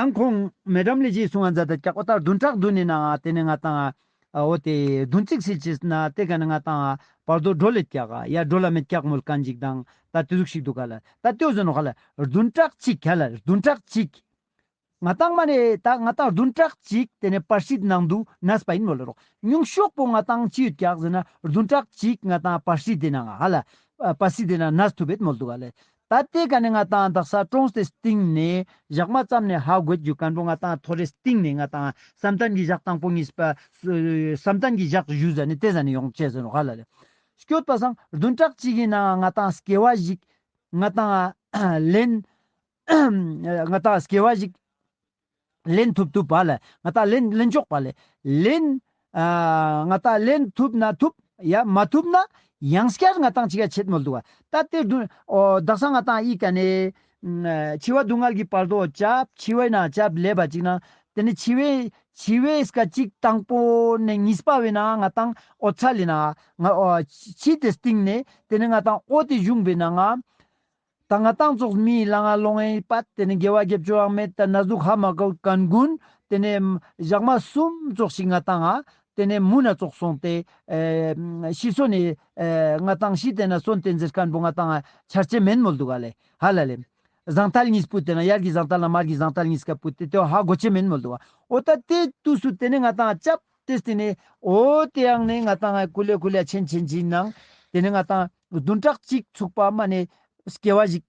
ཡང་ཁོང་མེ་འགྲམ་ལས་བྱེད་སུ་ང་འཛད་དང་སྐྱག་པ་ལྟར་བདུན་ཕྲག་བདུན་ནས་ནའང་དེ་ནས་ང་དང་འོ་དེ་བདུན་གཅིག་ཟིག་བྱས་ཟིན་ན་དེ་ག་ནས་ང་དང་བར་དོ་སྒྲོ་ལས་སྐྱག་ཨ་ཡ་སྒྲོ་ལ་མེད་སྐྱག་མོལ་ག་འཇིག་དང་ད་དེ་ཟུག་ཤིག་འདུག་ག་ལ་ད་ལྟོས་ཟིན་ནོ་ག་ལ་བདུན་ཕྲག་གཅིག་ག་ལ་བདུན་ཕྲག་གཅིག། ང་དང་མ་ནས་ད་ང་དང་བདུན་ཕྲག་གཅིག་དེ་ནས་པར་ཤིད་ནང་དུ་ནས་པ་ཡིན་མོ་ལ་རོགས་ཉུང་ཤོག་པོ་ང་དང་ཅི་ཡོད་སྐྱག་ཟིན་ན་བདུན་ཕྲག་གཅིག་ང་དང་པར་ཤིད་དེ་ནའང་ཨ་ལ་པར་ཤིད་དེ་ན་ནས་ཐུབ་བེད་མོལ་འདུག་ག་ལ་ད་ལྟའི་ག་ནི་ང་དང་དག་ས་ཀྲོངས་ཏེ་སྟིང་ནས་བཞག་མ་བརྩམས་ནས་ཧ་གོད་རྒྱུ་ག་འགྲོ་ང་དང་ཐོ་རེ་སྟིང་ནས་ང་དང་བསམ་གཏན་གྱི་བཞག་དང་པོ་གཉིས་པ། བསམ་གཏན་གྱི་བཞག་བཞུ་ཟ་ནི་དེ་ཟ་ནི་ཡོངས་བཅད་ཟེར་ཧ་ལ་ལས། སྐྱོ་ད་སང་བདུན་ཕྲག་གཅིག་གི་ནང་ང་དང་སྐྱེ་བ་ཞིག། ང་དང། ལན། ང་དང་སྐྱེ་བ་ཞིག། ལེན་ཐུབ་ཐུབ་པ་ལ་ང་ད་ལེན་ལེན་ཆོག་པ་ལས་ལེན། ང་ད་ལེན་ཐུབ་ན་ཐུབ་ཡ་མ་ཐུབ་ན་ཡང་སྐྱར་ང་ད་འཆི་ཁ་ཆད་མོལ་འདུག་ག་ད་དེར་བསྡུ། བདག་ས་ང་ད་ཡིག་ག་ནས། འཆི་བ་སྡུག་བསྔལ་གྱི་བར་དོ་བྱབ་འཆི་བས་ན་བྱབ་ལས་པ་ཅིག་ན་དེ་ནས་འཆི་བས་འཆི་བས་སྐ་ཅིག་དང་པོ་ནས་གཉིས་པ་བས་ན་ང་ད་ཨོ་ཚ་ལས་ན་ང་འཆི་དེ་སྟེང་ནས་དེ་ནས་ང་ད་ཨོ་དེ་བཞུགས་པས་ན་ང། ད་སྔ་ཏང་ཙོགས་སྨི་ཡི་ལ་ང་ལོ་ངའི་པ་དེ་ནས་འགལ་བ་རྒྱབ་སྐྱོར་བག་མེད་དང་ན་ཟུག་ཧ་མ་གོ་གན་གུན་དེ་ནས་ཞག་མ་གསུམ་ཙོགས་ཤིག་ང་ཏང་ཨ་དེ་ནས་མུ་ན་ཙོགས་སོང་ཏེ་ཤི་སོ་ནས་ང་ཏང་ཤི་དེ་ན་སོན་ཏེ་འཛེར་སྐན་པོ་ང་ཏང་ཨ་འཆར་ཅན་མེན་མོལ་འདུག་ཨ་ལེ་ཧ་ལ་ལེ། བཟང་ཐལ་གཉིས་སྤུད་དེ་ན་ཡར་གྱི་བཟང་ཐལ་ན་མར་གྱི་བཟང་ཐལ་གཉིས་ཀ་སྤུད་ཏེ་དེ་བ་ཧ་གོ་ཅན་མེན་མོལ་འདུག་ཨ་འོ་ད་དེ་དུས་སུ་དེ་ནས་ང་ཏང་ཨ་ལྕབ་ཏེ་དེ་ནས་འོ་དེ་ཡང་ནས་ང་ཏང་ཨ་གུ་ལེ་གུ་ལེ་ཨ་ཆེན་ཆེན་གྱིས་ནང་དེ་ནས་ང་ཏང་བདུན་ཕྲག་གཅིག་ཚུགས་པ་མ་ནས་སྐྱེ་བ་ཞིག་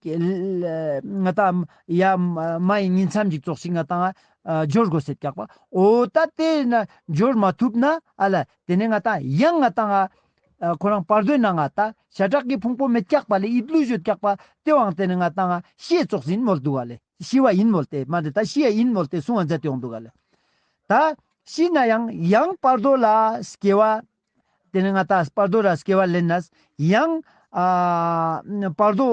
ང་ད་ཡ་མ་ཡི་ཉིན་མཚམས་ཞིག་རྫོགས་ཤིག་ང་དང་སྦྱོར་དགོས་ཟེར་སྐྱག་པ་འོ་ད་དེ་ན་སྦྱོར་མ་ཐུབ་ན་ཨ་ལ་དེ་ནས་ང་ད་ཡང་ང་དང་ཁོ་རང་བར་དོའི་ནང་ང་ད་ཞྭ་བྲག་གི་ཕུང་པོ་མེད་སྐྱག་པ་ལས་དབྱིབས་ཀླུ་གཞོན་སྐྱག་པ་དེ་དབང་དེ་ནས་ང་དང་ཤེས་བཙོག་ཟིན་མོལ་འདུག་ག་ལས་ཤི་བ་ཡིན་མོལ་ཏེ་མ་འདི་ད་ཤི་ཡ་ཡིན་མོལ་ཏེ་སྲུང་བ་མཛད་དེ་འོང་འདུག་ག་ལས་ད་ཤི་ན་ཡང་ཡང་བར་དོ་ལ་སྐྱེ་བ། དེ་ནས་ང་ཏཱས་བར་དོ་ར་སྐྱེ་བ་ལེན་ནས། ཡང། བར་དོ།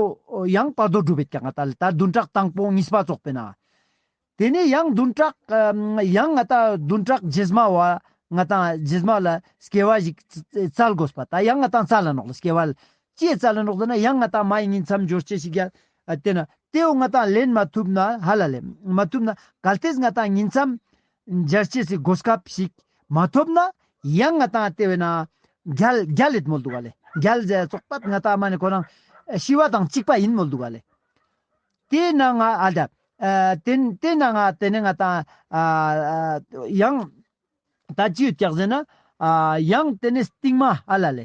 ཡང་བར་དོ་སྒྲུབ་པའི་ཀྱང་ང་ཏཱ་ལས་ད་བདུན་ཕྲག་དང་པོ་གཉིས་པ་རྫོགས་པས་ན། དེ་ནས་ཡང་བདུན་ཕྲག། ཡང་ང་ཏཱ་བདུན་ཕྲག་རྗེས་མ་བ། ང་ཏཱ་རྗེས་མ་ལ་སྐྱེ་བ་ཞིག་རྩལ་དགོས་པ་ད་ཡང་ང་ཏཱ་རྩལ་ལ་ནོག་ལ་སྐྱེ་བ། ཀྱེ་རྩལ་ལ་ནོག་ཟེར་ན་ཡང་ང་ཏཱ་མ་ཡིན་ཉིད་མཚམས་སྦྱོར་སྐྱེ་ཞིག་ཡ། དེ་ན་དེའོ་ང་ཏཱ་ལེན་མ་ཐུབ་ན་ཧ་ལ་ལས་མ་ཐུབ་ན་གལ་ཏེ་ང་ཏཱ་ཉིད་མཚམས། འཇལ་བྱེད་ཀྱི་གོ་སྐབས་ཤིག་མ་ཐོབ་ན་ཡང་ང་དང་ལྟེ་བའི་ནང་རྒྱལ་རྒྱལ་ལེད་མོ་འདུག་ག་ལེ་རྒྱལ་རྒྱལ་ཙོག་པད་ང་ད་མ་ནི་ཁོ་རང་ཤི་བ་དང་གཅིག་པ་ཡིན་མོ་འདུག་ག་ལེ། དེས་ན་ང་ཨ་ལྡ། དེ་དེས་ན་ང་དེ་ནས་ང་དང་ཡང་ད་ཅི་ཡོད་བཀྱག་ཟེར་ན། ཡང་དེ་ནས་ཏིང་མ་ཨ་ལ་ལེ།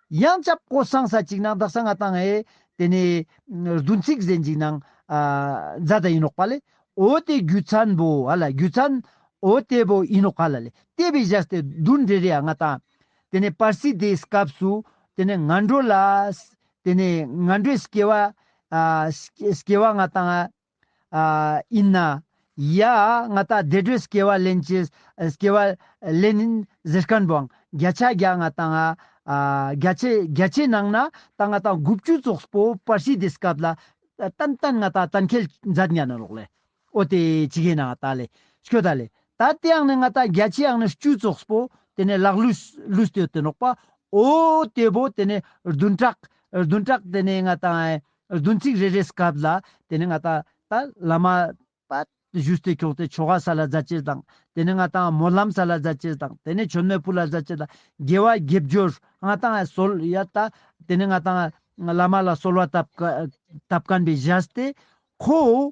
ཡང་སྐྱབས་སྐོར་གསང་ས་གཅིག་ནང་བདག་ས་ལྔ་བཏང་ཨེ། དེ་ནས། བདུན་ཚིགས་གཟན་གཅིག་ནང། བཛྲ་ད་ཡིན་ནོག་པ་ལས། ཨོ་དེ་རྒྱུད་ཚན་པོ་ཨ་ལ་རྒྱུད་ཚན། ཨོ་དེ་པོ་ཡིན་ནོག་པ་ལ་ལས། ལྟེ་བའི་གཞས་སྟེ་བདུན་རེ་རེ་ཨ་ལྔ་བཏང། དེ་ནས་པར་སིད་དེའི་སྐབས་སུ། དེ་ནས་ང་འགྲོ་ལ། དེ་ནས་ང་འགྲོའི་སྐྱེ་བ། སྐྱེ་བ་ལྔ་བཏང་ཨ། ཡིན་ན། ཡ། ང་ལྟ་བདེ་དྲོད་སྐྱེ་བ་ལེན་གྱི། སྐྱེ་བ་ལེན། གཟི་རྐང་བང། བརྒྱ་ཆ་བརྒྱ་ང་ལྟ་ང། བརྒྱ་ཆའི་བརྒྱ་ཆའི་ནང་ན། ད་ང་ལྟ་དགུ་བཅུ་རྫོགས་པོ་པར་ཤིས་དེ་སྐབས་ལ། ཏན་ཏན་ང་ལྟ་ད་མཁལ་འཛད་མྱ་ནོ་རོགས་ལས། ཨོ་དེ་ཇི་གེ་ན་ང་ལྟ་ལས། ཤོ་ད་ལས། ད་དེའང་ནི་ང་ལྟ་བརྒྱ་ཆའི་ཨང་ནི་བཅུ་རྫོགས་པོ། དེ་ནས་ལག་ལུས་ལུས་ལྟོས་དེ་ནོག་པ། ཨོ། དེ་བོ་དེ་ནས་བདུན་ཕྲག། བདུན་ཕྲག་དེ་ནས་ང་ལྟ། བདུན་ཚིགས་རེ་རེའི་སྐབས་ལ་དེ་ནི་ང་དང། ད་ལ་མ། པདྨ་བཞུ་སྟེ་ཁྱོགས་ཏེ་ཁྱོ་ག་ས་ལ་བཟའ་བྱེད་དང། དེ་ནི་ང་དང། མོ་ལྷམ་ས་ལ་བཟའ་བྱེད་དང། དེ་ནི་ཁྱོད་མོས་སྤུ་ལ་བཟའ་བྱེད་དང། དགེ་བ་དགེ་སྦྱོར་ང་དང། གསོལ་ཡ་ད། དེ་ནི་ང་དང། བླ་མ་ལ་གསོལ་བ་བཏབ། བཀའ་བཀན་པའི་བཞའ་སྟེ། ཁོ།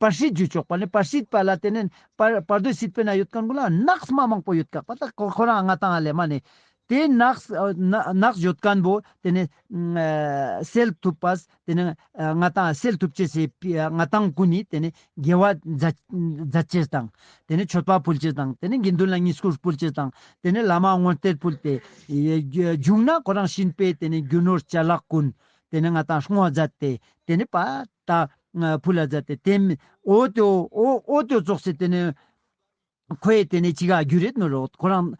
པར་ཤིད་ཇུས་ཆོག་པ་ནི་པར་ཤིད་པ་ལ་དེ་ནས་པར་དོད་ཤིད་པའི་ནང་ཡོད་མཁན་ཀུན་ལ་ནགས་དམའ་མང་པོ་ཡོད་དགག་པ་དག་ཁོ་རང་ང་དང་ལས་མ་ནས་དེ་ནགས་ཡོད་མཁན་པོ་དེ་ནས་སེལ་ཐུབ་པ་དེ་ནས་ང་དང་སེལ་ཐུབ་བྱེད་སའི་ང་དང་ཀུན་ནས་དེ་ནས་དགེ་བ་མཛད་བྱེད་དང་དེ་ནས་མཆོད་པ་ཕུལ་བྱེད་དང་དེ་ནས་དགེ་འདུན་ལ་གཉིས་བསྐུར་ཕུལ་བྱེད་དང་དེ་ནས་བླ་མ་དངོས་གཏེར་ཕུལ་ཏེ་བཞུགས་ན་ཁོ་རང་བྱིན་པས་དེ་ནས་རྒྱུ་ནོར་བྱ་གླག་ཀུན་དེ་ནས་ང་དང་བསྔོ་མཛད་དེ་དེ་ནས་པ། དང། བུ་ལ་བཟའ་སྟེ་དེ། ཨོ་ཏོ། ཨོ་ཏོ་བཙོག་ཚེ་དེ་ནི། ཁོ་ཡི་དེ་ནི་ཅི་ག་རྒྱུ་རེད་ནོ་རོགས་ཁོ་རང།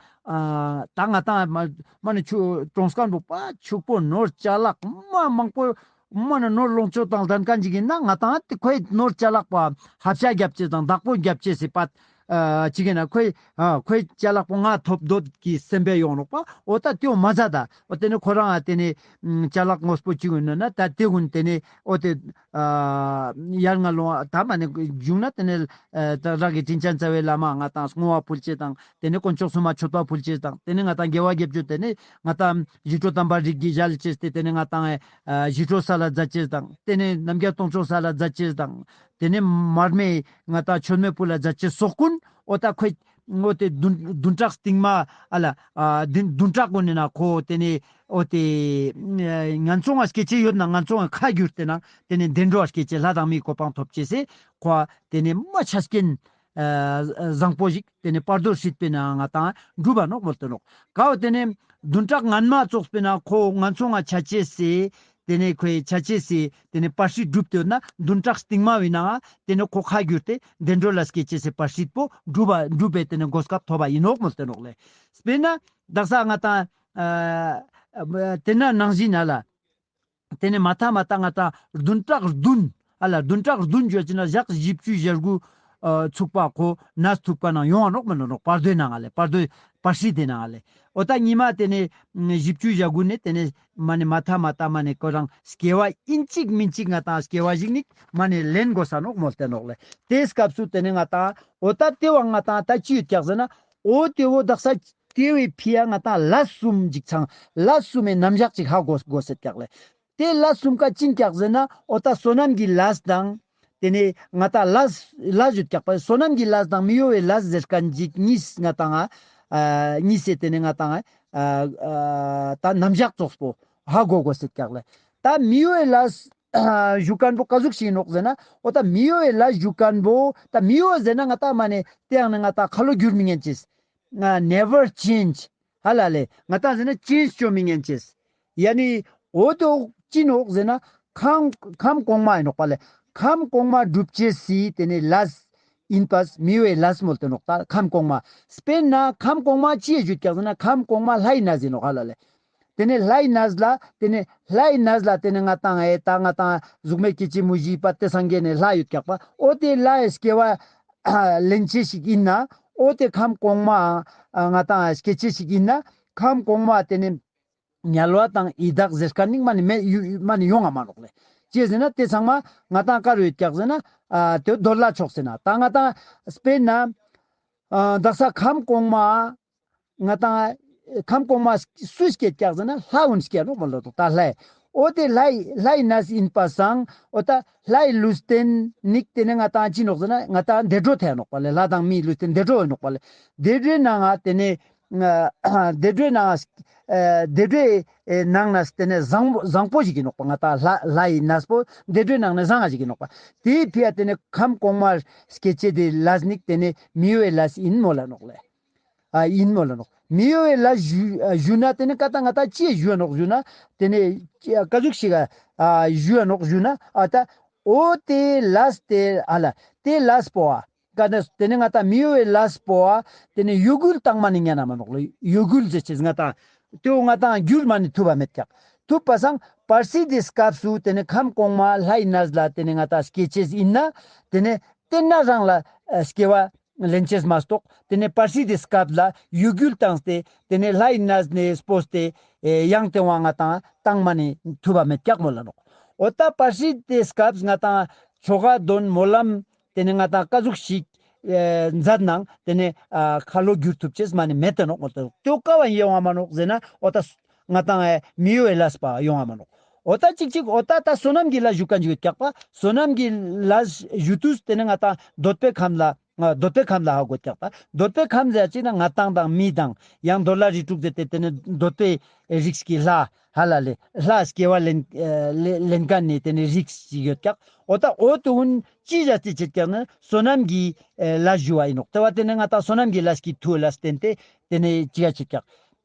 ད་ང་ད་མ་མ་ནི་ཆུ་གྲོང་སྐར་འབུག་པ་ཕྱུག་པོ་ནོར་བཅའ་ལག་མ་མང་པོ། མ་ནི་ནོར་ལོངས་སྤྱོད་དང་ལྡན་ག་འཇིག་ཡིན་ན་ང་ད་ང་དེ་ཁོ་ཡི་ནོར་བཅའ་ལག་པ་ཧབ་བྱ་རྒྱབ་བྱེད་དང་བདག་པོ་རྒྱབ་བྱེད་སྲིད་པ། གཅིག་གིས་ན་ཁོའི། ཁོའི་ལྕེ་ལག་པོ་ང་ཐོབ་འདོད་ཀྱི་སེམས་པས་ཡོང་རོགས་པ་ཨོ་ད་དེའོ་མ་ཟ་ད་ཨོ་དེ་ནི་ཁོ་རང་ཨ་དེ་ནི། ལྕེ་ལག་ངོ་སྤོ་བཅུག་ཡོད་ནོ་ན་ད་དེ་ཀུན་དེ་ནི་ཨོ་དེ། ཡར་ང་ལོང་ཨ་ད་མ་ནི་བརྒྱུགས་ན་དེ་ནི། རང་གི་དྲིན་ཅན་རྩ་བའི་བླ་མ་ང་དང་བསྔོ་བ་ཕུལ་བྱེད་དང་དེ་ནི་དཀོན་མཆོག་སྲུང་མ་མཆོད་པ་ཕུལ་བྱེད་དང་དེ་ནི་ང་དང་དགེ་བ་བསྒེབ་བྱོས་དེ་ནི། ང་དང་ཡིད་སྤྲོ་དམ་པ་རིགས་ཀྱི་ཞལ་ཅེས་ཏེ་དེ་ནི་ང་དང། ཡིད་སྤྲོ་ས་ལ་འཛད་བྱེད་དང་དེ་ནི་ནམ་མཁའི་སྟོང་ཕྱོགས་ས་ལ་འཛད་བྱེད་དང་དེ་ནི་མར་མེའི། ང་དང་ཆོས་མེད་བུ་ལ་རྫ་ཆེན་སོགས་ཀུན། ཨོ་ད་ཁོད། ཨོ་དེ་བདུན་ཕྲག་སྟེང་མ། ཨ་ལ། བདུན་ཕྲག་གོང་ནས་ན་ཁོ། དེ་ནས། ཨོ་དེ། ང་ཚོ་ང་སྐད་ཆེ་ཡོད་ན་ང་ཚོ་ང་ཁ་བསྒྱུར་དེ་ན། དེ་ནས་བདེ་འགྲོ་བ་སྐད་ཆེ་ལྷ་དང་མིའི་གོ་འཕང་ཐོབ་ཅེས། ཁོ། དེ་ནས་རྨ་ཆ་སྐྱེན། བཟང་པོ་ཞིག། དེ་ནས་པར་དོར་སྲིད་པས་ན་ང་དང་སྒྲུབ་པ་ནོག་མོ་སྟོན་རོགས། ག་འོ་དེ་ནས། བདུན་ཕྲག་ངན་མ་བཙོགས་པས་ན་ཁོ་ང་ཚོ་ང་བྱ་བྱེད་ཟེར། དེ་ནས་ཁོས་བྱ་བྱེད་ཟེར་དེ་ནས་པར་སྲིད་སྒྲུབ་སྟོན་ན་བདུན་ཕྲག་སྟིང་མ་བས་ན། དེ་ནས་ཁོ་ཁ་བསྒྱུར་ཏེ་བདེ་འགྲོ་ལ་སྐྱེལ་བྱེད་ཟེར་པར་སྲིད་པོ་སྒྲུབ་པ་འགྲུབ་པས་དེ་ནས་མགོ་སྐབས་ཐོབ་པ་ཡིན་ནོག་མོ་སྟོན་རོགས། ལས་པས་ན། བདག་ས་ང་དང། དེ་ན་ནང་བཞིན་ན་ལ། དེ་ནས་མ་ཐ་མ་ཏཱ་ང་ཏཱ་བདུན་ཏྲག་བདུན། ཨ་ལ་བདུན་ཏྲག་བདུན་བརྗོད་ཅེ་ན་ཞག་བཞི་བཅུའི་བཞི་དགུ། ཚུགས་པ་གོ་ན་ཚུགས་པ་ན་ཡོང་བ་ནོག་མི་ནོག་ནོག་པར་དོའི་ནང་ང་ལས་པར་དོའི་པར་ཧྲིའི་དེ་ནང་ང་ལས། ཨོ་ཏ་ཉི་མ་དེ་ནས་བཞི་བཅུའི་བཞི་དགུ་ནས་དེ་ནས་མ་ནས་མ་ཐ་མ་ཏཱ་མ་ནས་ཀོ་རང་སྐྱེ་བ་ཨིན་གཅིག་མིན་གཅིག་ང་དང་སྐྱེ་བ་བཞིག་ནི་མ་ནས་ལེན་དགོ་ས་ནོག་མོ་ལྟེ་ནོག་ལས་དེའི་སྐབས་སུ་དེ་ནས་ང་དང་ཨོ་ཏ་དེ་བ་ང་དང་ད་ཅི་ཡོད་ཀྱག་ཟེ་ན་ཨོ་དེ་བོ་བདག་ས་དེ་བས་ཕི་ཡ་ང་ད་ལ་གསུམ་འཇིག་ཚང་ལ་གསུམ་མའི་རྣམ་གཞག་ཅིག་ཧ་གོ་གོ་ཟེར་བཀྱགས་ལེ། དེ་ལ་གསུམ་ཀ་ཅིང་བཀྱགས་ཟེར་ན་ཨོ་ད་བསོད་ནམས་ཀྱི་ལ་དང། དེ་ནས་ང་ད་ལ། ལ་བཞི་བཀྱགས་པ་བསོད་ནམས་ཀྱི་ལ་དང་མི་གཡོ་བའི་ལ་ཟེར་ཀ་འཇིག་གཉིས་ང་དང་ཨ། གཉིས་སེ་དེ་ནས་ང་དང་ཨ། ད་རྣམ་གཞག་རྫོགས་པོ་ཧ་གོ་གོ་ཟེར་བཀྱགས་ལེ། ད་མི་གཡོ་བའི་ལ། གཞུག་སྐམ་པོ་ཀ་གཟུགས་བྱིན་ནོག་ཟེར་ན་ཨོ་ད་མི་གཡོ་བའི་ལ་གཞུག་སྐམ་པོ་ད་མི་གཡོ་ཟེར་ན་ང་ཏག་མ་ནས་དེ་ཡང་ན་ང་ཏག་ཁ་ལོ་བསྒྱུར་མི་ཉན་ཅེས། Never change ཧ་ལ་ལས་ང་ཏག་ཟེར་ན change བཅོ་མི་ཉན་ཅེས། ཡ་ནི་ཨོ་དོ་ཅི་ནོག་ཟེར་ན་ཁམས་གོང་མ་ཡིན་ནོག་པ་ལས་ཁམས་གོང་མ་སྒྲུབ་བྱེད་སི་དེ་ནས་ལས་ཡིན་པས་མི་གཡོ་བའི་ལ་སི་མོལ་དུ་ནོག་ཏག་ཁམས་གོང་མ་སྤེན་ན་ཁམས་གོང་མ་ཅི་ཡི་བརྗོད་ཀྱང་ཟེར་ན་ཁམས་གོང་མ་ལྷ་ཡིན་ན་ཟེར་ནོག་ཧ་ལ་ལས། དེ་ནས་ལྷའི་ན་བཟི་ལ་དེ་ནས་ལྷའི་ན་བཟི་ལ་དེ་ནས་ང་དང་ཨའི་ད་ང་དང་གཟུགས་མེད་ཀྱི་སྐྱེད་མོས་གཞིའི་པ་སྟེ་སངས་རྒྱས་ནས་ལྷ་ཡོད་རྒྱག་པ་ཨོ་དེ་ལྷའི་སྐྱེ་བ་ལེན་བྱེད་ཞིག་ཡིན་ན་ཨོ་དེ་ཁམས་གོང་མའང་ང་དང་ཨའི་སྐྱེད་བྱེད་ཞིག་ཡིན་ན་ཁམས་གོང་མ་དེ་ནས་ཉལ་བ་དང་ཡི་དྭགས་གཟེར་དཀར་སྙིགས་མ་ནས་མེ་ཡོད་མ་ནས་ཡོང་ང་མ་ལོག་ལས་སྐྱེས་ཟིན་ན་དེ་ཚང་མ་ང་དང་དཀར་ཡོད་རྒྱག་ཟིན་ན་དེ་རྡོར་ལྷ་མཆོག་ཟིན་ན་ད་ང་དང་ཨའི་སྤེལ་ན་བདག་ས་ཁམས་གོང་མ་ང་དང། ཁམས་གོང་མ། སུ་སྐྱེས་སྐྱག་ཟ་ན་ལྷ་འོན་སྐྱེས་རོགས་མ་ལོ་ཏོག་ད་ལྷའི། ཨོ་དེ་ལྷའི་ལྷའི་ན་ཟི་ཨིན་པ་སང་ཨོ་ད་ལྷའི་ལུས་རྟེན་ནིག་དེ་ནས་ང་དང་ཅི་ནོག་ཟེ་ན་ང་དང་འདེ་འགྲོ་ཐལ་ནོག་པ་ལེ་ལྷ་དང་མིའི་ལུས་རྟེན་འདེ་འགྲོ་འོད་ནོག་པ་ལེ། དེ་འདྲོའི་ནང་ང་དེ་ནས། དེ་འདྲོའི་ནང་ང། དེ་འདྲོའི་ནང་ན་ཟི་དེ་ནས་བཟང་བཟང་པོ་ཞིག་གི་ནོག་པ་ང་དང་ལྷ་ལྷའི་ན་ཟི་པོ་དེ་འདྲོའི་ནང་ན་བཟང་ང་ཞིག་གི་ནོག་པ། དེའི་ཕི་ཡ་དེ་ནས་ཁམས་གོང་མ། སྐྱེས་སྐྱེས་དེ་ལྷ་ཟི་ནིག་དེ་ནས་མིའི་ལྷ་ཟི་ཨིན་མོ་ལ་ནོག་ལེ། ཡིན་མོད་ལ། མི་གཡོ་བའི་ལ་བཞུགས་ན་དེ་ནི་བཀའ་རྟགས་ང་ལྟར་ཅི་བཞུགས་ནོག་བཞུགས་ན། དེ་ནི་བཀའ་བཞུགས་ཤིག་བཞུགས་ནོག་བཞུགས་ན། ཨཏ། ཨོ་ཏེ་ལཱས་ཏེ་ཨ་ལ། ཏེ་ལཱས་པོ་ཨ། བཀའ་ནི། དེ་ནི་ང་དང་མི་གཡོ་བའི་ལཱས་པོ་ཨ། དེ་ནི་གཡོ་འགུལ་དྭངས་མ་ནི་གཉའ་ན་མ་ནོག་ལ་གཡོ་འགུལ་ཟེར་ཆེས་ང་དང། དེ་འོ་ང་དང་འགྱུར་མ་ནི་ཐུབ་པ་མེད་ཀྱང། ཐུབ་པ་སང། པར་སིའི་དེ་སྐབས་སུ་དེ་ནི་ཁམས་གོང་མ་ལྷའི་ནཱས་ལ་དེ་ནི་ང་དང་སྐྱེ་ཆེས་ཡིན་ན། དེ་ནི། དེ་ན་རང་ལ། སྐྱེ་བ། གླིང་ཆེས་མ་གཏོགས་དེ་ནས་པར་སིའི་དེ་སྐབས་ལ་ཡུལ་གུལ་དང་སྟེ་དེ་ནས་ལྷ་ཡི་ན་ཟི་ནས་སྤོ་སྟེ་ཡང་དེ་བ་ང་དང་དང་མ་ནས་ཐུ་བ་མེད་ཀྱག་མོ་ལ་རོགས་འོ་ད་པར་སིའི་དེ་སྐབས་ང་དང་ཆོ་ག་འདོན་མོ་ལམ་དེ་ནས་ང་དང་ཀ་གཟུགས་ཞིག་མཛད་ནང་དེ་ནས་ཁ་ལོ་བསྒྱུར་ཐུབ་ཆེས་མ་ནས་མེད་དེ་རོགས་འོ་ད་ཀ་བ་ཡིན་ཡོང་བ་མ་རོགས་ཟེར་ན་འོ་ད་ང་དང་ཨའི་མིའུ་ཨའི་ལཱས་པ་ཡོང་ཨ་མ་ལོག་ཨོ་ད་ཅིག་ཅིག་ཨོ་ད་ད་བསོད་ནམས་ཀྱི་ལ་བཞུགས་ཀ་འཇིགས་སྐྱག་པ་བསོད་ནམས་ཀྱི་ལ་བཞུགས་དུས་དེ་ནི་ང་དང་འདོད་པའི་ཁམས་ལ་འདོད་པའི་ཁམས་ལ་ཧ་གོ་སྐྱག་པ་འདོད་པའི་ཁམས་ཟེར་ཅིག་ན་ང་དང་དང་མི་དང་ཡང་འདོད་ལ་རིགས་དྲུག་ཟེར་ཏེ་དེ་ནི་འདོད་པའི་རིགས་ཀྱི་ལྷ་ཧ་ལ་ལས་ལྷ་སྐྱེ་བ་ལེན་ལེན་ག་ནས་དེ་ནི་རིགས་ཞིག་ཡོད་སྐྱག་ཨོ་ད་ཨོ་དེ་འོན་ཅི་བཞག་རྩིས་བྱེད་སྐྱག་ནི་བསོད་ནམས་ཀྱི་ལ་བཞུགས་བ་ཡིན་ནོག་དེ་བ་དེ་ནི་ང་དང་བསོད་ནམས་ཀྱི་ལ་ཞིག་གི་ཐུགས་ལ་བསྟན་ཏེ་དེ་ནི་ཅི་ག་བྱེད་སྐྱག་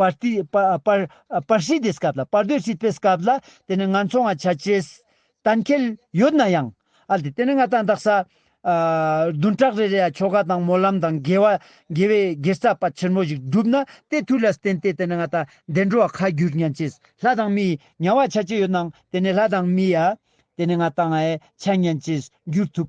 པར་ཏི། པར་སིའི་སྡེ་སྐབས་ལ་པར་སྡོད་སྲིད་པའི་སྐབས་ལ་དེ་ནི་ང་ཚོ་འང་བྱ་བྱེད། གཏན་ཁེལ། ཡོད་ན་ཡང། ཨཱ་དེ་ནི་ང་ད་འདག་ས། བདུན་ཕྲག་རེ་རེ་ཡ་ཁྱོ་ག་དང་སྨོན་ལམ་དང་དགེ་བ་དགེ་བའི་དགེ་རྩ་པ་ཆེན་མོ་ཞིག་སྒྲུབ་ན་དེ་དུས་ལ་བརྟེན་ཏེ་དེ་ནི་ང་ད་བདེ་འགྲོ་བ་ཁ་བསྒྱུར་མྱང་བྱེད། ལྷ་དང་མི། མྱང་བ་བྱ་བྱེད་ཡོད་ནའང་དེ་ནི་ལྷ་དང་མི། ཨཱ་དེ་ནི་ང་ད་འང་ཆ་མྱང་བྱེད་བསྒྱུར་ཐུབ།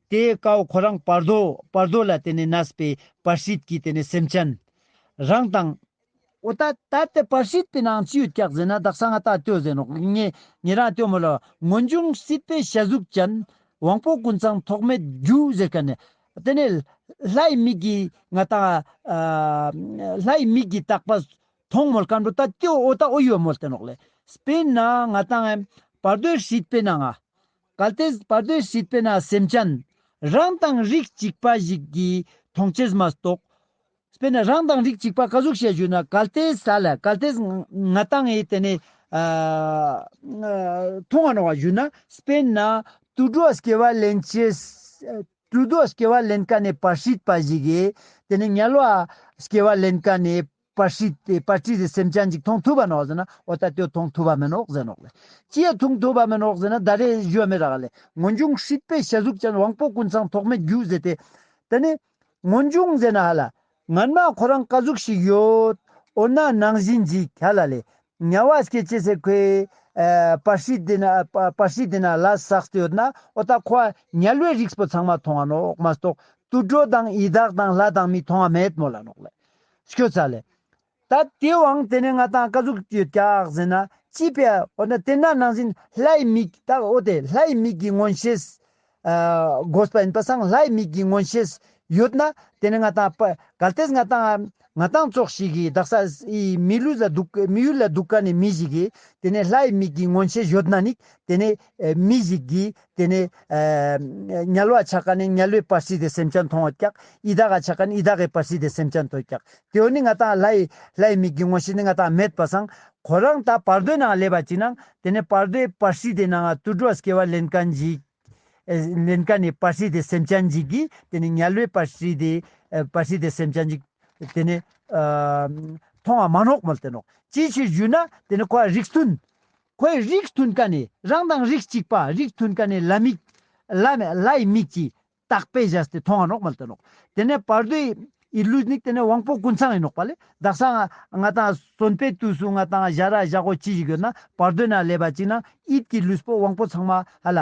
དེ་ཀའོ་ཁོ་རང་བར་དོ་བར་དོ་ལ་དེ་ནས་གནས་པའི་བར་སྲིད་ཀྱིས་དེ་ནས་སེམས་ཅན་རང་དང། འོ་ད་ད་དེ་བར་སྲིད་པའི་ནང་ཅིའུ་བཀྱག་ཟེར་ན་བདག་ས་ང་ད་ལྟོས་ཟེར་ནོག་ངས་ངེད་རང་ལྟོས་མོ་ལ་ངོ་འབྱུང་སྲིད་པའི་ཞལ་གཟུགས་ཅན་དབང་པོ་ཀུན་ཚང་ཐོགས་མེད་རྒྱུ་ཟེར་ཀ་ནས། དེ་ནས། ལྷའི་མིག་གིས་ང་ད། ལྷའི་མིག་གིས་བརྟགས་པ་མཐོང་མོ་ལ་ཀ་འགྲོ་ད་ལྟོས་འོ་ད་འོ་ཡོད་མོ་ལྟོས་ནོག་ལེ། དཔེར་ན་ང་དང། བར་དོའི་སྲིད་པའི་ནང་ང། གལ་ཏེ་བར་དོའི་སྲིད་པས་ན་སེམས་ཅན། རང་དང་རིགས་གཅིག་པ་ཞིག་གིས་མཐོང་ཆེར་མ་རྟོགས། དཔེར་ན་རང་དང་རིགས་གཅིག་པ་བཀའ་ཟུར་ཞེས་བརྗོད་ན་གལ་ཏེ་ས་ལ་གལ་ཏེ་ང་དང་ངའི་དེ་ནས། མཐོང་བ་ནོར་བ་ཞུས་ན། དཔེར་ན། དུད་འགྲོ་སྐྱེ་བ་ལེན་ཕྱིར། དུད་འགྲོ་སྐྱེ་བ་ལེན་ཀ་ནས་བར་སྲིད་པ་ཞིག་གིས་དེ་ནས་ཉལ་བ་སྐྱེ་བ་ལེན་ཀ་ནས། པ་ཧྲི་སྟེ་པ་ཀྲི་རི་སེམས་ཅན་ཅིག་མཐོང་ཐུབ་པ་ནོག་ཟེར་ན་ཨོ་ད་དོས་མཐོང་ཐུབ་པ་མེད་ནོག་ཟེར་ནོག་ལེ། ཅིའི་མཐོང་ཐུབ་པ་མེད་ནོག་ཟེར་ན་ད་རེས་གཞོན་མེད་རག་ལེ། ངོ་འབྱུང་ཧྲིད་པའི་ཞལ་གཟུགས་ཅན་དབང་པོ་ཀུན་ཚང་ཐོགས་མེད་རྒྱུ་ཟེར་ཏེ། དེ་ནི། ངོ་འབྱུང་ཟེར་ན་ཧ་ལ། ངར་མ་ཁོ་རང་ཀ་གཟུགས་ཤིག་ཡོད། འོ་ན་ནང་བཞིན་གྱིས་ག་ལ་ལེ། ཉ་བ་སྐད་ཅེས་ཟེར་ཁོས། པ་ཧྲི་དེ་ན་པ་ཧྲི་དེ་ན་ལ་ཟགས་ཏེ་ཡོད་ན་ཨོ་ད་ཁོ་ཨ་ཉལ་བས་རིགས་སྤོ་ཚང་མ་མཐོང་བ་ནོག་མ་གཏོགས་ཏུ་གྲོ་དང་ཡི་དྭགས་དང་ལྷ་དང་མི་མཐོང་བ་མེད་མོ་ལ་ནོག་ལེ། ཤོད་ས་ལས། ད་དེ་བང་དེ་ནས་ང་དང་བཀའ་ཟུར་གྱི་བཀྱག་ཟིན་ན་ཅི་ཕེད་འོ་ན་དེ་ནང་ནང་བཞིན་ལྷའི་མིག་ད་འོ་དེ་ལྷའི་མིག་གི་མངོན་ཤེས་དགོས་པ་ཡིན་པ་སང་ལྷའི་མིག་གི་མངོན་ཤེས་ཡོད་ན་དེ་ནས་ང་དང་བཀའ་གལ་ཏེ་ང་དང་ང་དང་ཙོག་ཞིག་གིས་བདག་ས་ཡི་མི་ལུས་ལ་འདུག་མི་ཡུལ་ལ་འདུག་ག་ནས་མི་ཞིག་གིས་དེ་ནས་ལྷའི་མིག་གི་མངོན་ཤེས་ཡོད་ན་ནི་དེ་ནས་མི་ཞིག་གིས་དེ་ནས། ཉལ་བར་བྱ་ཀ་ནི་ཉལ་བའི་བར་སྲིད་དེ་སེམས་ཅན་མཐོང་བ་བཀག། ཡི་དྭགས་ལ་བྱ་ཀ་ནི་ཡི་དྭགས་ཀྱི་བར་སྲིད་དེ་སེམས་ཅན་མཐོང་བ་བཀག། དེ་འོ་ནི་ང་དང་ལྷའི། ལྷའི་མིག་གི་ངོ་ཞེས་ནི་ང་དང་མེད་པར་སངས། ཁོ་རང་དག་བར་དོའི་ནང་སླེབ་པར་བགྱིད་ན། དེ་ནས་བར་དོའི་བར་སྲིད་དེ་ནའང་དུར་འགྲོ་བ་སྐྱེ་བ་ལན་ཀ་འཇིག། ལན་ཀ་ནི་བར་སྲིད་དེ་སེམས་ཅན་འཇིག་གི། དེ་ནི་ཉལ་བའི་བར་སྲིད་དེ། བར་སྲིད་དེ་སེམས་ཅན་འཇིག། དེ་ནས། མཐོང་བ་མ་ནོག་མོལ་དེ་ནོག། ཅིའི་ཕྱིར་བཞུད་ན། དེ་ནི་ཁོ་བ་རིགས་མཐུན། ཁོའི་རིགས་མཐུན་ཀ་ནས་རང་དང་རིགས་གཅིག་པ་རིགས་མཐུན་ཀ་ནས་ལ་མིག། ལའི་མིག་ཅེས་བཏགས་པས་བཞག་སྟེ་མཐོང་བ་ནོག་མ་ལྟ་ནོག། དེ་ནས་བར་དོའི་ཡི་ལུས་ནི་དེ་ནས་དབང་པོ་ཀུན་ཚང་ཡིན་ནོག་པ་ལས་བདག་སང་ང་དང་གསོན་པའི་དུས་སུ་ང་དང་བཞག་ར་བཞག་གོ་ཅི་ཞིག་ཡོད་ན་བར་དོའི་ན་ལས་པ་གཅིག་ན་ཡིད་ཀྱི་ལུས་པོ་དབང་པོ་ཚང་མ་ལ་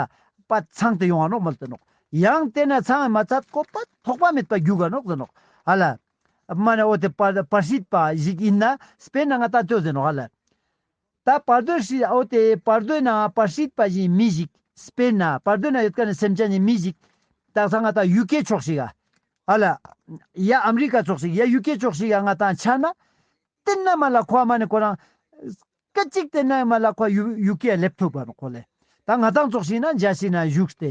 པ་ཚང་དེ་ཡོང་བ་ནོག་མ་ལྟ་ནོག། ཡང་དེ་ནས་ཚང་མ་ཚ་ཀོ་པ་ཐོགས་པ་མེད་པ་རྒྱུ་ག་ནོག་ལྟ་ནོག། པདྨ་ནས་ཨོ་དེ་པར་ཞིག་པ་ཞིག་ཡིན་ན་སྤེན་ན་ང་དང་ཅོ་ཟེར་ནོག། ད་བར་དོའི་ཧྲིལ་བོ་དེ་བར་དོའི་ནང་བར་ཤིད་པ་བཞིན་མི་བཞིག་སྤེན་ན་བར་དོའི་ནང་ཡོད་ཀ་ནི་སེམས་ཅན་ནི་མི་བཞིག་ད་ས་ང་ད་ཡུ་ཀེ་ཕྱོགས་ཤིག་ཨ་ཨ་ལ་ཡ་ཨ་མི་རི་ཀ་ཚོགས་ཤིག་ཡ་ཡུ་ཀེ་ཕྱོགས་ཤིག་ཡ་ང་དང་ཆ་ན་སྟེན་ན་མ་ལ་ཁོ་མ་ནི་ཁོ་རང་སྐད་གཅིག་སྟེན་ན་མ་ལ་ཁོ་ཡུ་ཡུ་ཀེ་ཡ་སླེབས་ཐུབ་པ་ཁོ་ལས་ད་ང་དང་ཚོགས་ཤིག་ན་འཇའ་ཤིག་ན་བཞུགས་ཏེ་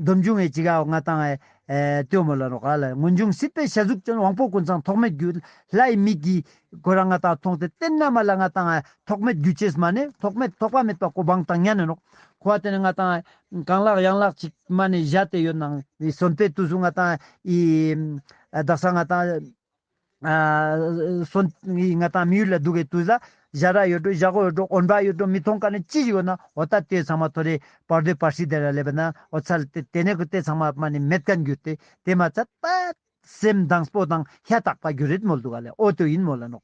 སྡོམ་འབྱུང་བའི་ཇི་ག་འོག་ང་དང། སྟོད་མོ་ལ་རོ་ག་ལ་སྔོན་འབྱུང་སྲིད་པའི་ཞལ་གཟུགས་ཅན་དབང་པོ་ཀུན་ཚང་ཐོགས་མེད་རྒྱུ། ལྷའི་མིག་གིས། གོས་ར་ང་དག་མཐོང་སྟེ་སྟན་ན་མ་ལ་ང་དང། ཐོགས་མེད་རྒྱུ་ཅེས་སྨྲ་ནས་ཐོགས་མེད་ཐོགས་པ་མེད་པ་གོ་འབངས་དང་གཉའ་ནས་ནོག། འཁོར་བ་དེ་ནས་ང་དང། གང་ལགས་ཡང་ལགས་ཅིག་སྨྲ་ནས་བཞག་སྟེ་ཡོད་སྣང་བའི་གསོན་པའི་དུས་སུ་ང་དང། བདག་ས་ང་དང། སོ་ནི་ང་དང་མི་ཡུལ་ལ་འདུག་གི་དུས་ལ་བཞག་ར་ཡོད་དྲུག་བཞག་གོ་ཡོད་དྲུག་འོན་པ་ཡོད་དྲུག་མི་མཐོང་ཀ་ནི་ཅི་ཞིག་ཡོད་ན་འོ་ད་ལྟོས་ཚང་མ་ཐོ་རེ་བར་དོའི་བར་ཤིག་དེ་ར་ལས་པ་ན་འོ་ཚ་ལ་དེ་ནས་གུ་ལྟོས་ཚང་མ་མ་ནི་མེད་ཀ་འགྱུར་ཏེ་དེ་མ་ཚ་ད་སེམས་དང་སྤོ་དང་ཧྱ་རྟག་པ་རྒྱུ་རེད་མོལ་འདུག་ག་ལས་འོ་དོས་ཡིན་མོ་ལ་ནོག་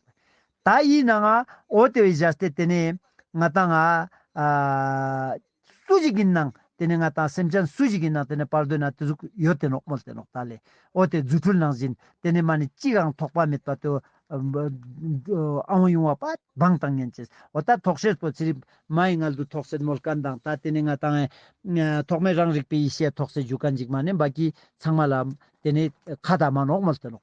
ད་ཡིན་ན་ང་འོ་དོས་བཞག་སྟེ་དེ་ནས་ང་དང་ང་སུ་ཞིག་ཡིན་ནང་དེ་ནི་ང་དང་སེམས་ཅན་སུ་ཞིག་ཡིན་ནང་དེ་ནི་བར་དོའི་ནང་དེ་གཟུགས་ཡོད་དེ་ནོག་མོལ་དེ་ནོག་ད་ལས་ཨོ་དེ་རྫུ་འཕྲུལ་ནང་བཞིན་དེ་ནི་མ་ནི་ཅིག་རང་ཐོགས་པ་མེད་པ་དུ་ཨ་འོང་ཡོང་བ་པ་སྦང་དང་ངན་ཅེས་ཨོ་ད་ཐོགས་ཤེར་དོ་ཚེ་རིང་མ་ཡི་ངལ་དུ་ཐོགས་སེར་མོ་སྐལ་མདངས་ད་དེ་ནི་ང་དང་ཐོགས་མེད་རང་རིག་པའི་ཡེ་ཤེས་ཐོགས་སེ་འཇུ་ཀ་འཇིགས་མ་ནི་འབའ་ཀྱི་ཚང་མ་ལ་དེ་ནི་ཁ་ད་མ་ནོག་མོལ་དེ་ནོག།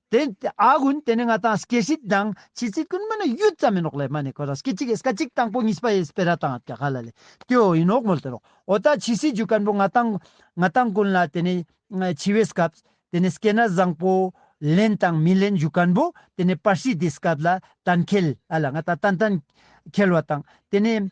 དེ་ཨ་གུན་དེ་ནི་ང་དང་སྐྱེ་ཤི་དང་ཕྱི་ཚེ་ཀུན་མ་ནི་ཡུད་ཙམ་མིན་རོགས་ལས་མ་ནི་ཁོ་རང་སྐྱེ་གཅིག་ཨེས་ཀ་གཅིག་དང་པོ་གཉིས་པ་ཨེས་པེ་ར་དང་ཀྱ་ཁ་ལ་ལས་ཏེ་ཨོ་ཡིན་འོག་མོལ་དེ་རོགས་ཨོ་ད་ཕྱི་སྲིད་ཇུས་སྐན་པོ་ང་དང་ང་དང་ཀུན་ལ་དེ་ནི་འཆི་བའི་སྐབས་དེ་ནི་སྐེ་ན་བཟང་པོ་ལེན་དང་མི་ལེན་ཇུས་སྐན་པོ་དེ་ནི་པར་སྲིད་དེ་སྐབས་ལ་གཏན་འཁེལ་ཨ་ལ་ང་ད་ཏན་ཏན་འཁེལ་བ་དང་དེ་ནི།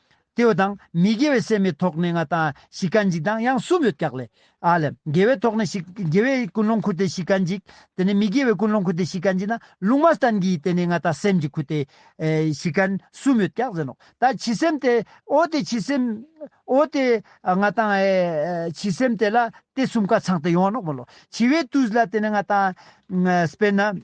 སྐྱེ་བ་དང་མི་དགེ་བའི་སེམས་མི་ཐོགས་གནས་ལྔ་དང་བཞི་ཀ་འཇིག་དང་ཡང་གསུམ་རེ་བཀག་ལས། ཨ་ལས། དགེ་བས་ཐོགས་ནས་བཞི། དགེ་བས་ཀུན་སློང་འཁུར་ཏེ་བཞི་ཀ་འཇིག། དེ་ནས་མི་དགེ་བས་ཀུན་སློང་འཁུར་ཏེ་བཞི་ཀ་འཇིག་ན་ལུང་མ་བསྟན་གྱིས་དེ་ནས་ལྔ་དང་སེམས་ཀྱིས་འཁུར་ཏེ། བཞི་ཀ། གསུམ་ཡོད་བཀག་ཟིན་ནོ། ད་བྱི་སེམས་དེ། ཨོ་དེ་བྱི་སེམས། ཨོ་དེ། ལྔ་དང། བྱི་སེམས་དེ་ལ། དེ་གསུམ་ཀ་ཚང་སྟེ་ཡོངས་བརླག་མི་སློབ། བྱི་བས་བཏུལ་ལ་དེ་ནས་ལྔ་དང། དཔེར་ན།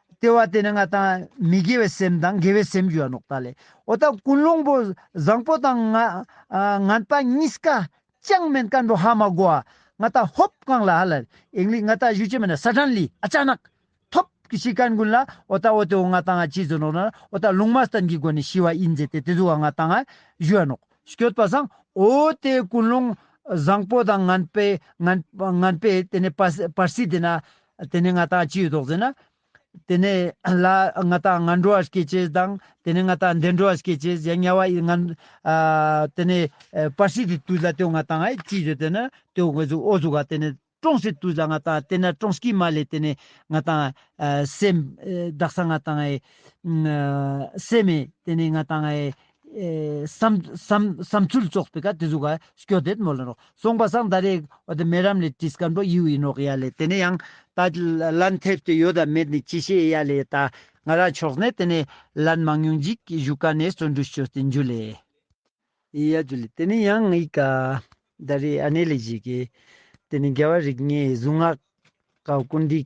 ལྟེ་བ་དེ་ནི་ང་དང་མི་དགེ་བའི་སེམས་དང་དགེ་བའི་སེམས་རྒྱུ་བ་ནོག་ལྟ་ལས་འོ་ད་ཀུན་སློང་པོ་བཟང་པོ་དང་ང་ངན་པ་གཉིས་ཀ་ཅང་མེད་མཁའ་འགྲོ་ཧ་མ་གོ་བ་ང་ད་ཧོབ་བཀང་ལ་ཧ་ལ་ཨིང་ལིག་ང་ད་བཞུ་ཅི་མེད་ན་ས་གྲན་ལི་ཨ་ཅག་ནག་ཐོབ་ཀྱི་ཤི་ཀན་ཀུན་ལ་འོ་ད་འོ་དེ་འོ་ང་དང་ང་གཅིག་མཛོད་ནོག་ན་འོ་ད་ལུང་མ་སྟན་གྱི་སྒོ་ནས་ཤི་བ་ཨིན་མཛད་དེ་དེ་ཟུ་བ་ང་དང་ང་བཞུ་བ་ནོག་སྐྱོད་པ་བཟང་འོ་དེ་ཀུན་སློང་བཟང་པོ་དང་ངན་པའི་ངན་པའི་དེ་ནས་པ་པར་སི་དེ་ན་དེ་ནས་ང་དང་ཅིའི་དོགས་ཟེར་ན། དེ་ནས་ལ་ང་དང་ང་འགྲོ་བ་སྐྱེད་བྱེད་དང། དེ་ནས་ང་དང་འདི་འགྲོ་བ་སྐྱེད་བྱེད་ཡང་དམྱལ་བ་ཡི་ང། དེ་ནས་པར་སིག་གི་དུས་ལ་དེའོ་ང་དང་ཅིའི་ཟེར་དེ་ན་དེའོ་ངེས་འཛུགས་ཨོ་གཟུགས་ཀ་དེ་ནས་ཀྲོང་སིག་དུས་ལ་ང་དང་དེ་ན་ཀྲོང་སྐྱིད་མ་ལས་དེ་ནས་ང་དང། སེམས། བདག་སང་ང་དང། སེམས། དེ་ནས་ང་དང། བསམ་ཚུལ་རྫོགས་པའི་སྐབས་དེ་ཚོ་ག་སྐྱོ་དེད་མོ་ལ་རོ་སོང་པ་སང་ད་རེས་རྨི་རམ་ལས་དྲིས་སྐར་འབོ་ཡིའུ་ཡིན་ནོག་ཡ་ལས་དེ་ནས་ཡང་ད་ལན་ཐེབས་ཏེ་ཡོད་དམ་མེད་ནི་ཅི་ཤེས་ཡ་ལས་ད་ང་རང་ཕྱོགས་ནས་དེ་ནས་ལན་མང་ཉུང་འཇིག་བཞུགས་ཀ་ནས་བརྩོན་འགྲུས་བསྐྱོ་སྟེ་འཇུ་ལས། ཡ་འཇུ་ལས་དེ་ནས་ཡང་ངའི་ག་ད་རེས་ཨ་ནེ་ལས་བྱེད་ཀྱི་དེ་ནས་རྒྱལ་བ་རིགས་ལྔའི་གཟུངས་སྔགས་ཀ་ཀུན་འདུས་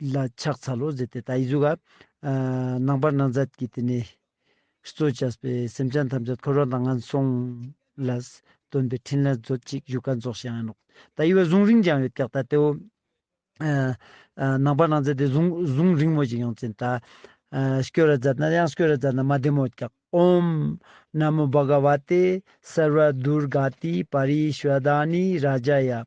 ལ་ཕྱག་འཚལ་ལོ་ཟེར་ཏེ་ད་ཡིག་གཟུགས་ལ། ནང་པར་སྣང་མཛད་ཀྱིས་དེ་ནས། གཙོ་བྱས་པའི་སེམས་ཅན་ཐམས་ཅད་འཁོར་བ་དང་ངན་སོང་ལ། སྟོན་པའི་ཕྲིན་ལས་མཛོད་ཅིག་བཞུགས་སྒར་རྫོགས་བྱེད་ཨ། ད་ཡིག་བས་གཟུངས་རིང་ཅང་ཡོད་དེག་ད་ལྟེའོ། ནང་པར་སྣང་མཛད་དེ་གཟུངས་རིང་མོ་ཅིག་ཡང་བཙལ་ད། སྐྱོ་ར་བཛྲ་ན་ཡང་སྐྱོ་ར་བཛྲ་ན་མ་བདེ་མོ་ཀྱག་ཨོམ། ན་མོ་བྷ་ག་བ་ཏེ་སར་བ་དུར་ག་ཏི་པ་རི་ཤཱ་ད་ནི་རཱ་ཇཱ་ཡ།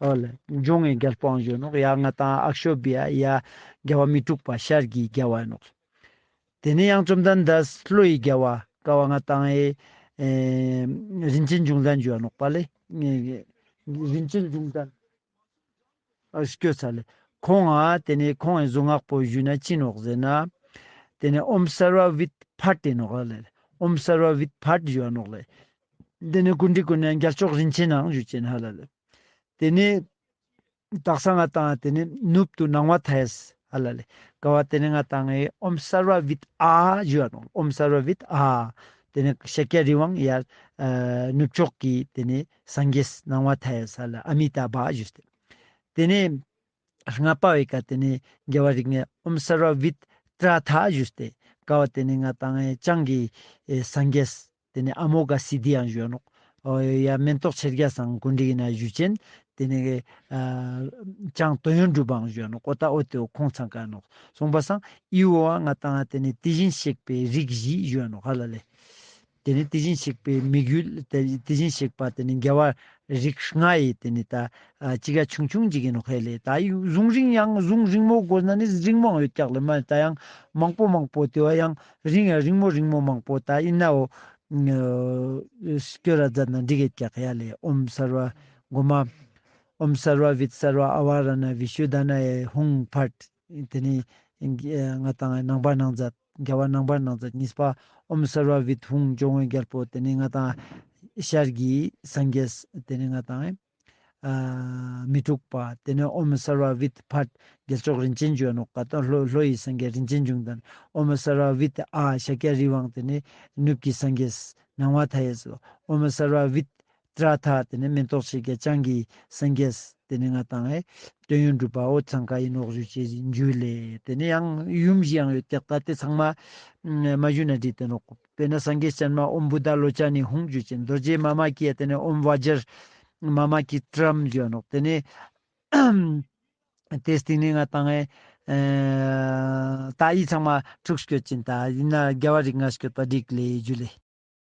ཨོ་ལེ། འབྱུང་བའི་རྒལ་སྤང་གཞོན་ནུ་ཡ་ང་དང་ཨག་ཤོ་བི་ཨ་ཡ། རྒལ་བ་མི་འཁྲུགས་པ་ཤར་གྱི་རྒྱལ་བ་ནོ། དེ་ནས་ཡང་བཅོམ་ལྡན་འདས་ཀླུ་ཡི་རྒྱལ་བ་ཀ་བ་ང་དང་ཨེ། རིན་ཆེན་འབྱུང་ལྡན་འཇུ་བ་ནོག་པ་ལས། རིན་ཆེན་འབྱུང་ལྡན། སྐྱོ་ཚ་ལས། ཁོང་ཨ། དེ་ནས་ཁོང་ཨེ་གཟུངས་སྔགས་པོ་བཞུས་ན་ཅི་ནོག་ཟེར་ན། དེ་ནས་ཨོམ་སར་བ་བིད་བྷ་ཏི་ནོག་ཨ་ལེ། ཨོམ་སར་བ་བིད་བྷ་ཏི་འཇུ་བ་ནོག་ལེ། འདི་ནི་གུར་འདྲིས་ཀུན་ནས་འགྱར་ཕྱོགས་རིན་ཆེན་ནའང་བཞུགས་ཅེས་ཧཱ་ལ་ལས། དེ་ནས་དག་ས་ང་དང་དེ་ནས་ནུབ་ཏུ་སྣང་བ་མཐའ་ཡས་ཧཱ་ལ་ལས། དགའ་བ་དེ་ནས་ང་དང་ངའི་ཨོམ་སར་བ་བིད་ཨ་ཞུ་བ་དང་ཨོམ་སར་བ་བིད་ཨ། དེ་ནས་ཤཱཀྱ་རི་དབང་ཡར། ནུབ་ཕྱོགས་ཀྱི་དེ་ནས་སངས་རྒྱས་སྣང་བ་མཐའ་ཡས་ཧཱ་ལ་ཨ་མི་ཏཱ་བ་ཞུ་སྟེ། དེ་ནས་ལྔ་པ་བའི་ཀ་དེ་ནས་རྒྱལ་བ་རིགས་ལྔའི་ཨོམ་སར་བ་བིད་ཏྲ་དྷ་ཞུ་སྟེ། དགའ་བ་དེ་ནས་ང་དང་ངའི་སྤྱང་གི་སངས་རྒྱས་དེ་ནས་ཨ་མོ་ག་སི་དི་ཡང་བཞོན་ནོ། ཡང་མེན་ཏོག་ཕྱེད་བརྒྱ་སང་ཀུན་དྲི་ཡི་ན་བཞུ་ཅན། དེ་ནས། ཅང་ཏོ་ཡོན་སྒྲུབ་པའང་བཞོན་ནོ་ཀོ་ཏ་ཨོ་ཏོའི་ཁོང་ཚང་ཀ་ནོ། སོང་པ་སང་ཨི་ཨོ་ཨ་ང་ཏང་ཨ་དེ་ནས་དེ་བཞིན་གཤེགས་པའི་རིགས་བཞི་བཞོན་ནོ་ཧ་ལ་ལས། དེ་ནས་དེ་བཞིན་གཤེགས་པའི་མིག་ཡུལ་དེ་བཞིན་གཤེགས་པ་དེ་ནས་རྒྱལ་བ་རིགས་ལྔ་ཡི་དེ་ནས་ད་ཅི་ག་ཆུང་ཆུང་ཅིག་ཡིན་ནོ་ཧེ་ལས་ད་ཡིག་གཟུངས་རིང་ཡང་གཟུངས་རིང་མོ་དགོས་ན་ནི་རིང་མོའང་ཡོད་ཀྱག་ལས་མ་ད་ཡང་མང་པོ་མང་པོ་དེ་བ་ཡང་རིང་ཡང་རིང་མོ་རིང་མོ་མང་པོ་ད་ཡིན་ནའོ། སྐྱོ་ར་རྫ་ན་འབྲི་གེ་རྒྱ་ཁ་ཡ་ལེ་ཨོམ་སར་བ། འགོ་མ། ཨོམ་སར་བ་བིད་སར་བ་ཨ་བ་ར་ན་བི་ཤུ་དཱ་ན་ཡ་ཡེ་ཧུང་བྷར། དེ་ནས། ང་དང་ནང་པ་ནང་ཛ། རྒྱ་བ་ནང་པ་ནང་ཛ་གཉིས་པ། ཨོམ་སར་བ་བིད་ཧུང་ཇོ་བོན་རྒྱལ་པོ་དེ་ནས་ང་དང། ཤར་གྱི་སངས་རྒྱས། དེ་ནས་ང་དང། མི་འཁྲུགས་པ། དེ་ནས་ཨོ་མི་སར་བ་བྷི་ཏི་བྷ། རྒྱལ་མཆོག་རིན་ཆེན་འབྱོན་ནོ། ལྷོ་ཡི་སངས་རྒྱས་རིན་ཆེན་འབྱུང་དང། ཨོ་མི་སར་བ་བྷི་ཏི་ཨཱ། ཤཱཀྱ་རིའི་དབང་དེ་ནི། ནུབ་ཀྱི་སངས་རྒྱས། ནང་བ་དྷ་ཡས་སོ། ཨོ་མི་སར་བ་བྷི། ཏྲཱི་དྷ། དེ་ནི་མེ་ཏོག་ཕྱེད་བརྒྱ་བྱང་གི། སངས་རྒྱས། དེ་ནི་ང་དང་ཨེ། སྟོན་ཡོན་སྒྲུབ་པའོ། ཚང་ཁ་ཡིན་ནོག་བཞུ་བྱེད་འཇུ་ལེ། དེ་ནི་ཡང། ཡུམ་བཞི་ཡང་ཡོད་དེ། ད་ལྟའི་ཚང་མ། མ་བཞུ་ན་དྲི་སྟོན་ནོག། དཔེར་ན་སངས་རྒྱས་སྤྱན་མ་ཨོམ་བུ་ད་ལོ་ཅཱ་ནི་ཧུང་བརྗོད་ཅིང་རྡོ་རྗེ་མཱ་མ་ཀཱི་ཡ་དེ་ནས་ཨོམ་བཱཇར་མཱ་མ་ཀཱི་ཏྲཱམ་བརྗོད་ནོ། དེ་ནས་དེའི་སྟེང་ནས་ང་དང། ཏཱྃ་ཡིག་ཚང་མ་དྲུག་བརྗོད་ཅིང་ད་ཡིག་ན་རྒྱལ་བ་རིགས་ལྔ་བརྗོད་པ་རིགས་ལས་རྒྱུད་ལས།